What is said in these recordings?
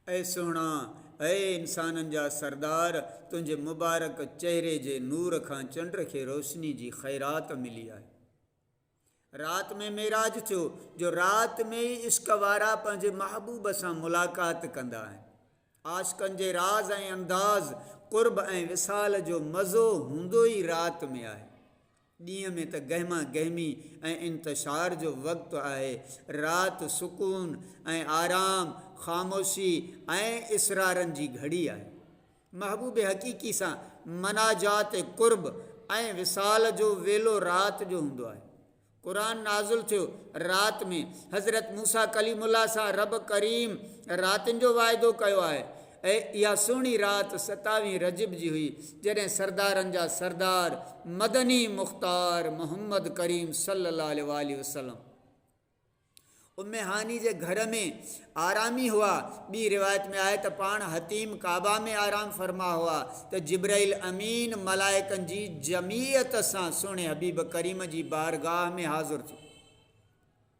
اي سهڻا! اي انسانن جا سردار! تنهنجي مبارڪ چهري جي نور کان چنڊ کي روشني جي خيرات ملي آهي. رات ۾ معراج ٿيو، جو رات ۾ ئي عشق وارا پنهنجي محبوب سان ملاقات ڪندا آهن. عاشقن جي راز ۽ انداز، قرب ۽ وصال جو مزو هوندو ئي رات ۾ آهي. ڏينهن ۾ ته گهما گهمي ۽ انتشار جو وقت آهي، رات سڪون ۽ آرام، خاموشي ۽ اسرارن جي گهڙي آهي. محبوب حقيقي سان مناجات قرب ۽ وصال جو ويلو رات جو هوندو آهي. قرآن نازل ٿيو رات ۾، حضرت موسيٰ ڪليم الله سان رب ڪريم راتين جو واعدو ڪيو آهي. اهي اها سهڻي رات ستاويهين رجب جي هئي، جڏهن سردارن جا سردار مدني مختار محمد ڪريم صلي الله عليه واٰله وسلم، ام هاني جي گهر ۾ آرامي هئا، ٻي روايت ۾ آهي ته پاڻ حطيم ڪعبه ۾ آرام فرما هئا ته جبرئيل امين ملائڪن جي جمعيت سان سهڻي حبيب ڪريم جي بارگاهه ۾ حاضر ٿيو.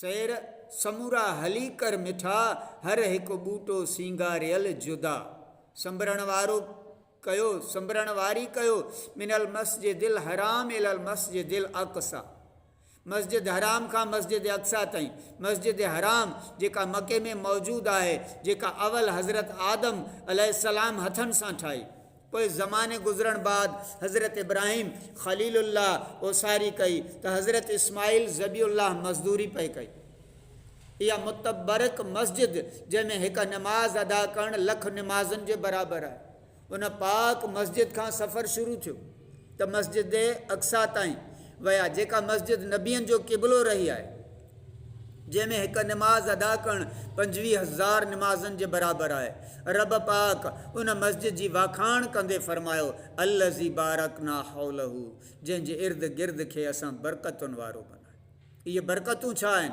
سير سمورا هلي ڪر مٺا، هر هڪ ٻوٽو سينگاريل جدا. سنبرڻ وارو ڪيو، سنبرڻ واري ڪيو، من المسجد الحرام الي المسجد الاقصيٰ، مسجد حرام کان مسجد اقصيٰ تائين، مسجد حرام جيڪا مڪي ۾ موجود آهي، جيڪا اول حضرت آدم عليه السلام هٿن سان ٺاهي. پوء زماني گذرڻ بعد حضرت ابراهيم خليل الله اوساري ڪئي ته حضرت اسماعيل ذبيح الله مزدوري پئي ڪئي. اها متبرڪ مسجد جنهن ۾ هڪ نماز ادا ڪرڻ لک نمازن جي برابر آهي. ان پاڪ مسجد کان سفر شروع ٿيو ته مسجد اقصيٰ تائين ويا جيڪا مسجد نبين جو قبلو رهي آهي. جنهن ۾ هڪ نماز ادا ڪرڻ پنجويهه هزار نمازن جي برابر آهي. رب پاڪ ان مسجد جي واکاڻ ڪندي فرمايو، الذي بارڪنا حوله جنهن جي ارد گرد کي اسان برڪتن وارو بنايو. اهي برڪتون ڇا آهن؟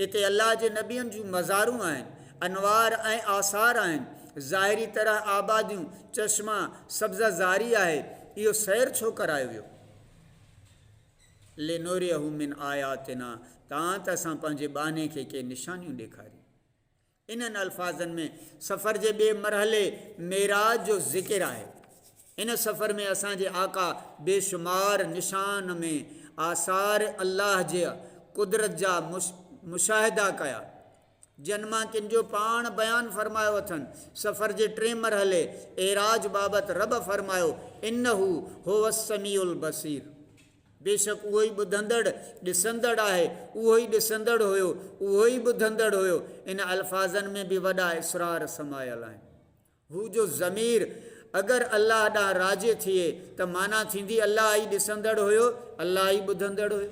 اتي الله جي نبين جون مزارون آهن، انوار ۽ آثار آهن، ظاهري طرح آباديون، چشما، سبزه زاري آهي. اهو سير ڇو ڪرايو ويو؟ لنريه من آياتنا تان ته اسان پنهنجي ٻانهي کي ڪي نشانيون ڏيکاريون. انهن الفاظن ۾ سفر جي ٻئي مرحلي معراج جو ذڪر آهي. ان سفر ۾ اسان جي آقا بيشمار نشان ۾ آثار الله جي قدرت جا مشاهدا ڪيا. جن مان ڪن جو پاڻ بيان فرمايو اٿن، سفر جي ٽئين مرحلي، اعراج، بابت رب فرمايو، انه هو السميع البصير، بيشڪ اهو ئي ٻڌندڙ، ڏسندڙ، آهي، اهو ئي ڏسندڙ هيو، اهو ئي ٻڌندڙ هيو، ان الفاظن ۾ به وڏا اسرار سمايل آهن. هو جو ضمير اگر الله ڏانهن راجع ٿئي ته معنيٰ ٿيندي الله ئي ڏسندڙ هيو، الله ئي ٻڌندڙ هيو.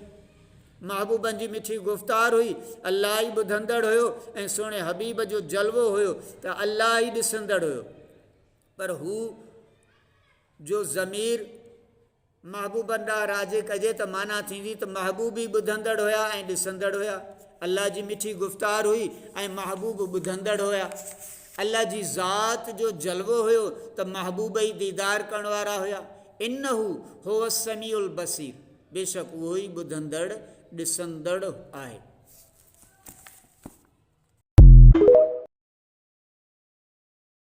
محبوبن جي مٺي گفتار هئي، الله ئي ٻڌندڙ هيو ۽ سهڻي حبيب جو جلوو هيو ته الله ئي ڏسندڙ هيو. پر هو جو ضمير. محبوبن ڏانهن راجي ڪجي ته معنيٰ ٿيندي ته محبوب ئي ٻڌندڙ هيا ۽ ڏسندڙ هيا. الله جي مٺي گفتار هئي ۽ محبوب ٻڌندڙ هيا. الله جي ذات جو جلوو هيو ته محبوب ئي ديدار ڪرڻ وارا هيا. انه هو السميع البصير بيشڪ اهو ئي ٻڌندڙ، ڏسندڙ آهي.